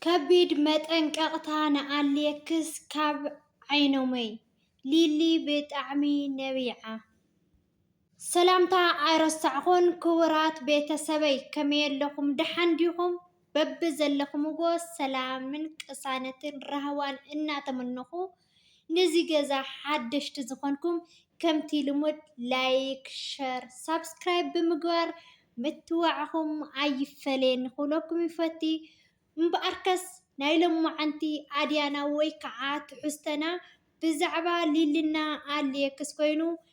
ከቢድ መጠንቀቅታ ንኣሌክስ ካብ ዓይኖመይ። ሊሊ ብጣዕሚ ነቢዓ። ሰላምታ ኣይረሳዕኩን ክቡራት ቤተሰበይ ከመይ ኣለኹም ደሓን ዲኹም በብዘለኹምዎ ሰላምን ቅሳነትን ራህዋን እናተመነኹ ንዚ ገዛ ሓደሽቲ ዝኮንኩም ከምቲ ልሙድ ላይክ ሸር ሳብስክራይብ ብምግባር ምትብባዕኩም ኣይፈለየኒ ክብለኩም ይፈቲ እምብኣርከስ ናይ ሎማዓንቲ ኣድያና ወይ ከዓ ትሕዝቶና ብዛዕባ ሊሊ እና ኣሌክስ ኮይኑ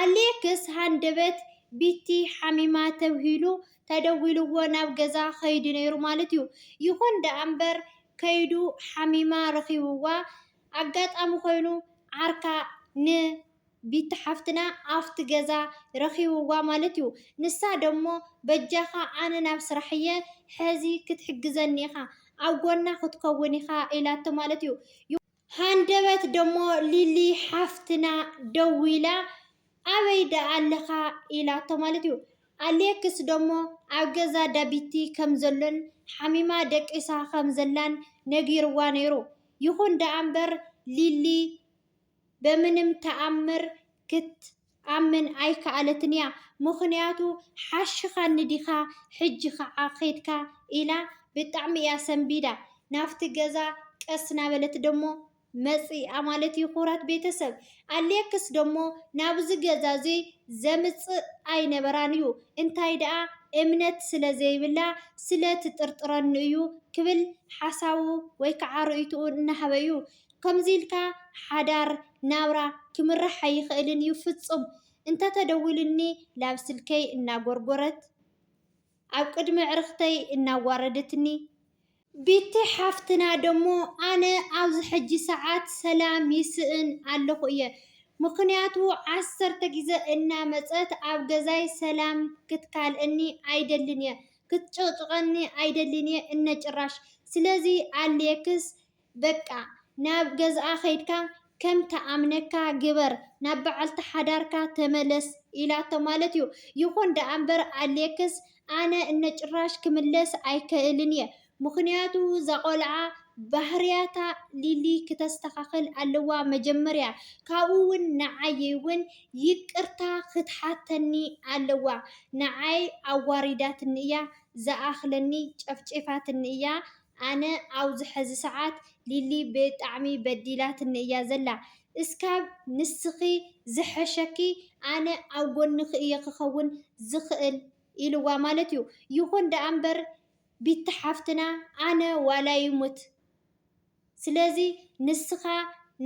ኣሌክስ ሃንደበት ቢቲ ሓሚማ ተብሂሉ ተደዊልዎ ናብ ገዛ ከይዱ ነይሩ ማለት'ዩ። ይኹን ደኣ'ምበር ከይዱ ሓሚማ ረኺብዋ። ኣጋጣሚ ኮይኑ ዓርካ ን ቢቲ ሓፍትና ኣፍቲ ገዛ ረኺብዋ ማለት'ዩ። ንሳ ደሞ በጃኻ ኣነ ናብ ስራሕ'የ ሕዚ ክትሕግዘኒ ኢኻ ኣብ ጎና ክትከውን ኢኻ ኢላቶ ማለት'ዩ። ሃንደበት ደሞ ሊሊ ሓፍትና ደዊላ ኣበይ ደኣ ኣለኻ ኢላቶ ማለት እዩ። ኣሌክስ ደሞ ኣብ ገዛ ዳቢቲ ከም ዘሎን ሓሚማ ደቂሳ ከም ዘላን ነጊርዋ ነይሩ። ይኹን ደኣ እምበር ሊሊ በምንም ተኣምር ክት ክትኣምን ኣይከኣለትን'ያ፣ ምኽንያቱ ሓሽኻኒ ዲኻ ሕጂ ኸኣ ኬድካ ኢላ ብጣዕሚ'ያ ሰንቢዳ። ናብቲ ገዛ ቀስ እናበለት ደሞ መጺኣ ማለት'ዩ፣ ክቡራት ቤተሰብ። ኣሌክስ ደሞ ናብዚ ገዛ'ዚ ዘምጽእ ኣይነበራን'ዩ፣ እንታይ ደኣ እምነት ስለ ዘይብላ ስለ ትጥርጥረኒ'ዩ ክብል ሓሳቡ ወይ ከዓ ርእይቶኡ እናሃበ'ዩ። ከምዚ ኢልካ ሓዳር፣ ናብራ፣ ክምራሕ ኣይኽእልን እዩ ፍፁም። እንተተደዊሉኒ ላብ ስልከይ እናጎርጎረት፣ ኣብ ቅድሚ ኣዕርኽተይ እናዋረደትኒ፣ ቢቲ ሓፍትና ደሞ ኣነ ኣብዚ ሕጂ ሰዓት ሰላም ይስእን ኣለኹ እየ ምኽንያቱ ዓሰርተ ግዘ እናመፀት ኣብ ገዛይ ሰላም ክትካልኣኒ ኣይደልን እየ ክትጭቕጭቐኒ ኣይደልን እየ እነ ጭራሽ ስለዚ ኣልየክስ በቃ ናብ ገዝኣ ከይድካ ከም ትኣምነካ ግበር ናብ በዓልቲ ሓዳርካ ተመለስ ኢላቶ ማለት እዩ። ይኹን ደኣ እምበር ኣሌክስ ኣነ እነጭራሽ ክምለስ ኣይከእልን እየ ምኽንያቱ እዛ ቆልዓ ባህርያታ ሊሊ ክተስተኻኽል ኣለዋ መጀመርያ ካብኡ ውን ንዓይ ውን ይቅርታ ክትሓተኒ ኣለዋ ንዓይ ኣዋሪዳትኒ እያ ዝኣኽለኒ ጨፍጪፋትኒ እያ ኣነ ኣብዚ ሐዚ ሰዓት ሊሊ ብጣዕሚ በዲላትኒ እያ ዘላ እስካብ ንስኪ ዝሐሸኪ ኣነ ኣብ ጎንኪ እየ ክከውን ዝክእል ኢልዋ ማለት እዩ ይኩን ደኣ እምበር ቢቲ ሓፍትና ኣነ ዋላ ይሙት ስለዚ ንስካ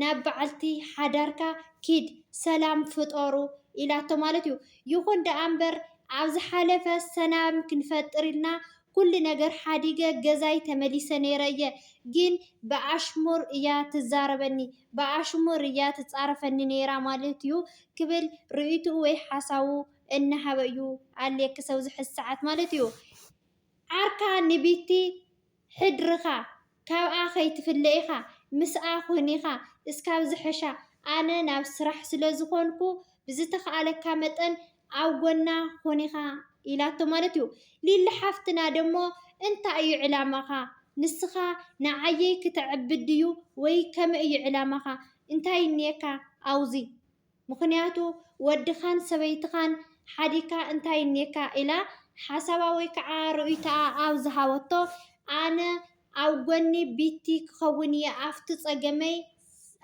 ናብ በዓልቲ ሓዳርካ ኪድ ሰላም ፍጠሩ ኢላቶ ማለት እዩ ይኩን ደኣ እምበር ኣብ ዝሓለፈ ሰላም ክንፈጥር ኢልና ኩሉ ነገር ሓዲገ ገዛይ ተመሊሰ ነይረ እየ ግን ብኣሽሙር እያ ትዛረበኒ ብኣሽሙር እያ ትፃረፈኒ ነይራ ማለት እዩ ክብል ርእይትኡ ወይ ሓሳቡ እናሃበ እዩ ኣሌ ክሰብ ዝሕዚ ሰዓት ማለት እዩ ዓርካ ንቢቲ ሕድርካ ካብኣ ከይትፍለ ኢኻ ምስኣ ኩን ኢኻ እስካብ ዝሐሻ ኣነ ናብ ስራሕ ስለ ዝኾንኩ ብዝተኻኣለካ መጠን ኣብ ጎና ኩን ኢኻ ኢላቶ ማለት እዩ ሊሊ ሓፍትና ደሞ እንታይ እዩ ዕላማኻ ንስኻ ንዓየይ ክተዕብድ ድዩ ወይ ከመይ እዩ ዕላማኻ እንታይ እንየካ ኣውዚ ምኽንያቱ ወድኻን ሰበይትኻን ሓዲግካ እንታይ እኒኤካ ኢላ ሓሳባ ወይ ከዓ ርእይቶኣ ኣብ ዝሃበቶ ኣነ ኣብ ጎኒ ቢቲ ክኸውን እየ ኣፍቲ ፀገመይ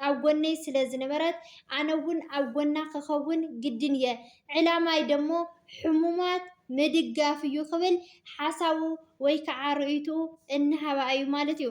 ኣብ ጎነይ ስለ ዝነበረት ኣነ እውን ኣብ ጎና ክኸውን ግድን እየ ዕላማይ ደሞ ሕሙማት ምድጋፍ እዩ ክብል ሓሳቡ ወይ ከዓ ርእይትኡ እንሃባ እዩ ማለት እዩ።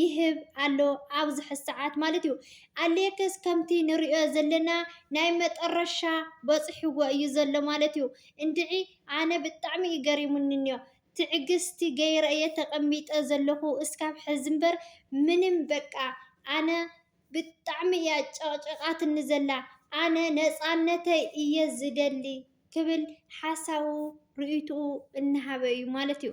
ይህብ ኣሎ ኣብዚ ሕዚ ሰዓት ማለት እዩ። ኣሌክስ ከምቲ ንሪኦ ዘለና ናይ መጠረሻ በፂሕዎ እዩ ዘሎ ማለት እዩ። እንድዒ ኣነ ብጣዕሚ እዩ ገሪሙኒ እኒኦ ትዕግስቲ ገይረ እየ ተቀሚጠ ዘለኹ እስካብ ሕዚ እምበር ምንም በቃ ኣነ ብጣዕሚ እያ ጨቅጭቃትኒ ዘላ ኣነ ነፃነተይ እየ ዝደሊ ክብል ሓሳቡ ሪኢቱኡ እናሃበ እዩ ማለት እዩ።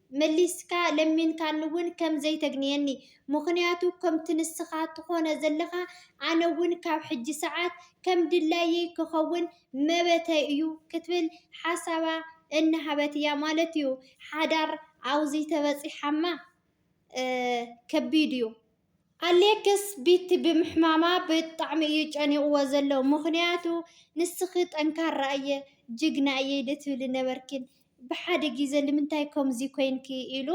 መሊስካ ለሚንካኒውን ከም ዘይተግንየኒ፣ ምኽንያቱ ከምቲ ንስኻ ትኾኖ ዘለኻ ኣነውን ካብ ሕጂ ሰዓት ከም ድላየይ ክኸውን መበተይ እዩ ክትብል ሓሳባ እናሃበት እያ ማለት እዩ። ሓዳር ኣውዚ ተበጺሓማ ከቢድ እዩ። ኣሌክስ ቢቲ ብምሕማማ ብጣዕሚ እዩ ጨኒቅዎ ዘሎ ምክንያቱ ንስኪ ጠንካራ እየ ጅግና እየ ዶ ትብሊ ነበርኪን ብሓደ ግዜ ንምንታይ ከምዚ ኮይንኪ ኢሉ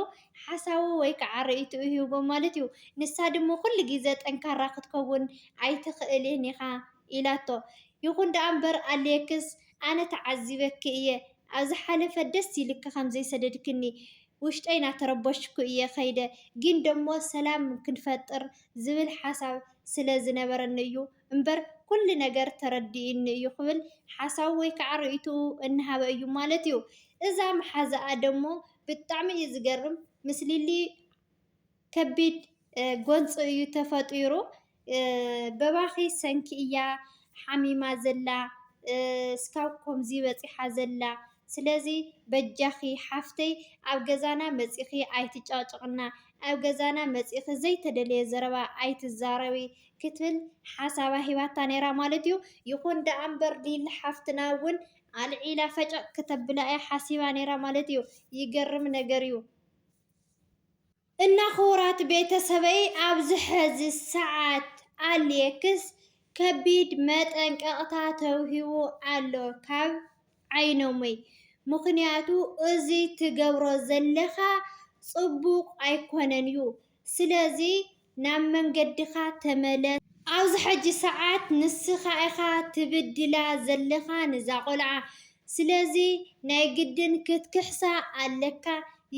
ሓሳቡ ወይ ከዓ ርእይትኡ ሂብዎ ማለት እዩ ንሳ ድማ ኩሉ ግዜ ጠንካራ ክትከውን ኣይትክእልን ኢካ ኢላቶ ይኩን ደኣ እምበር ኣሌክስ ኣነ ተዓዚበኪ እየ ኣብ ዝሓለፈ ደስ ኢልኪ ከምዘይሰደድክኒ ውሽጠይ ናተረበሽኩ እየ ከይደ ግን ደሞ ሰላም ክንፈጥር ዝብል ሓሳብ ስለ ዝነበረኒ እዩ እምበር ኩሉ ነገር ተረዲኡኒ እዩ ክብል ሓሳቡ ወይ ከዓ ርእይትኡ እናሃበ እዩ ማለት እዩ እዛ መሓዝኣ ደሞ ብጣዕሚ እዩ ዝገርም ምስ ሊሊ ከቢድ ጎንፂ እዩ ተፈጢሩ። በባኺ ሰንኪ እያ ሓሚማ ዘላ እስካብ ኮምዚ በፂሓ ዘላ ስለዚ በጃኺ ሓፍተይ ኣብ ገዛና መፂኺ ኣይትጨቕጭቕና ኣብ ገዛና መፂኺ ዘይተደለየ ዘረባ ኣይትዛረቢ ክትብል ሓሳባ ሂባታ ነይራ ማለት እዩ። ይኹን ደኣ እምበር ሊሊ ሓፍትና እውን ኣልዒላ ፈጨቕ ክተብላ እያ ሓሲባ ነይራ ማለት እዩ። ይገርም ነገር እዩ። እና ክቡራት ቤተሰበይ ኣብዚ ሐዚ ሰዓት ኣሌክስ ከቢድ መጠንቀቅታ ተውሂቡ ኣሎ ካብ ዓይነሙይ ምክንያቱ እዙይ ትገብሮ ዘለካ ፅቡቅ ኣይኮነን እዩ ስለዚ ናብ መንገድኻ ተመለስ። ኣብዚ ሕጂ ሰዓት ንስኻ ኢኻ ትብድላ ዘለኻ ንዛ ቆልዓ ስለዚ ናይ ግድን ክትክሕሳ ኣለካ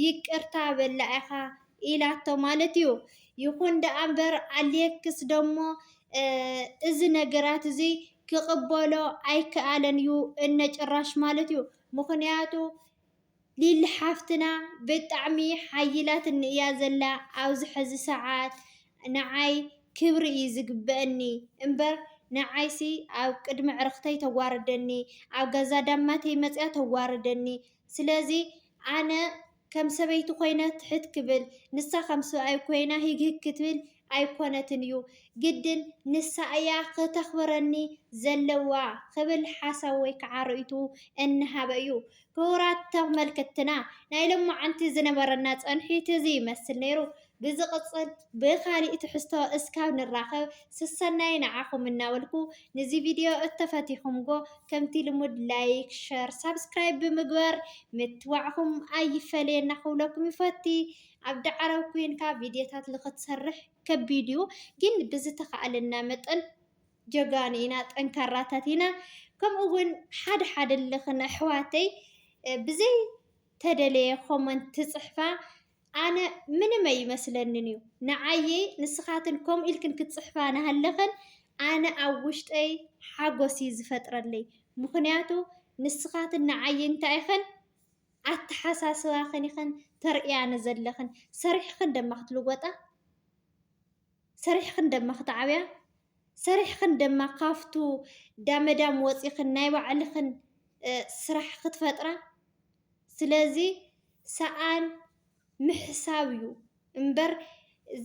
ይቅርታ በላ ኢኻ ኢላቶ ማለት እዩ ይኹን ደኣ እምበር ኣሌክስ ደሞ እዚ ነገራት እዙይ ክቅበሎ ኣይከኣለን እዩ እነጭራሽ ማለት እዩ ምኽንያቱ ሊሊ ሓፍትና ብጣዕሚ ሓይላትኒ እያ ዘላ ኣብዚ ሐዚ ሰዓት ንዓይ ክብሪ እዩ ዝግበእኒ እምበር ንዓይሲ ኣብ ቅድሚ ኣዕርክተይ ተዋርደኒ ኣብ ገዛ ዳማተይ መፅያ ተዋርደኒ ስለዚ ኣነ ከም ሰበይቲ ኮይነ ትሕት ክብል ንሳ ከም ሰብኣይ ኮይና ሂግ ሂግ ክትብል ኣይኮነትን እዩ ግድን ንሳ እያ ክተኽብረኒ ዘለዋ ክብል ሓሳብ ወይ ከዓ ርእይትኡ እናሃበ እዩ። ክቡራት ተመልከትትና ናይ ሎማዓንቲ ዝነበረና ጸንሒት እዚ ይመስል ነይሩ። ብዝቕጽል ብኻሊእ ትሕዝቶ እስካብ ንራኸብ ስሰናዩ ንዓኹም እናበልኩ ንዚ ቪድዮ እተፈቲኹምጎ ከምቲ ልሙድ ላይክ ሸር ሳብስክራይብ ብምግባር ምትባዕኹም ኣይፈለየና ክብለኩም ይፈቲ። ኣብዲ ዓረብ ኮይንካ ቪድዮታት ልክትሰርሕ ከቢድ እዩ ግን ብዝተካኣለና መጠን ጀጋኑ ኢና ጠንካራታት ኢና ከምኡ እውን ሓደ ሓደ ልክን ኣሕዋተይ ብዘይ ተደለየ ኮመንት ትፅሕፋ ኣነ ምንም ኣይመስለንን እዩ ንዓየይ ንስኻትን ከምኡ ኢልክን ክትፅሕፋ ናሃለኽን ኣነ ኣብ ውሽጠይ ሓጎስ እዩ ዝፈጥረለይ ምክንያቱ ንስኻትን ንዓይ እንታይ ኢኽን ኣተሓሳስባኽን ኢኽን ተርእያ ንዘለኽን ሰሪሕኽን ደማ ክትልወጣ ሰሪሕኽን ደማ ክትዓብያ ሰሪሕኽን ደማ ካፍቱ ዳመዳም ወፂኽን ናይ ባዕልኽን ስራሕ ክትፈጥራ ስለዚ ሰኣን ምሕሳብ እዩ እምበር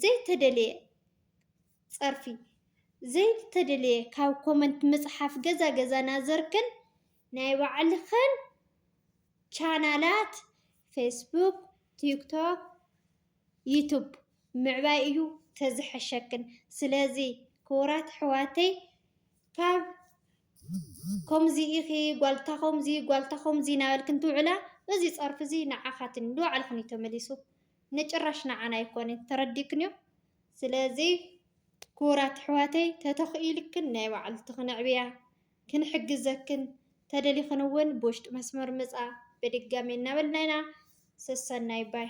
ዘይተደልየ ፀርፊ ዘይተደልየ ካብ ኮመንት ምፅሓፍ ገዛ ገዛ ናዘርክን ናይ ባዕልኽን ቻናላት ፌስቡክ ቲክቶክ ዩቱብ ምዕባይ እዩ ተዝሐሸክን ስለዚ ክቡራት ኣሕዋተይ ካብ ከምዚ ኢኺ ጓልታ ከምዚ ጓልታ ከምዚ ናበልክን ትውዕላ እዚ ፀርፊ እዚ ንዓኻትን ንባዕልኽን እዩ ተመሊሱ ንጭራሽ ንዓና ኣይኮነን ተረዲክንዮ ስለዚ ክቡራት ኣሕዋተይ ተተኽኢልክን ናይ ባዕልትኽን ኣዕብያ ክንሕግዘክን ተደሊኽን እውን ብውሽጢ መስመር ምፃ በድጋሜ እናበልና ኢና ሰሰናዩ ባይ።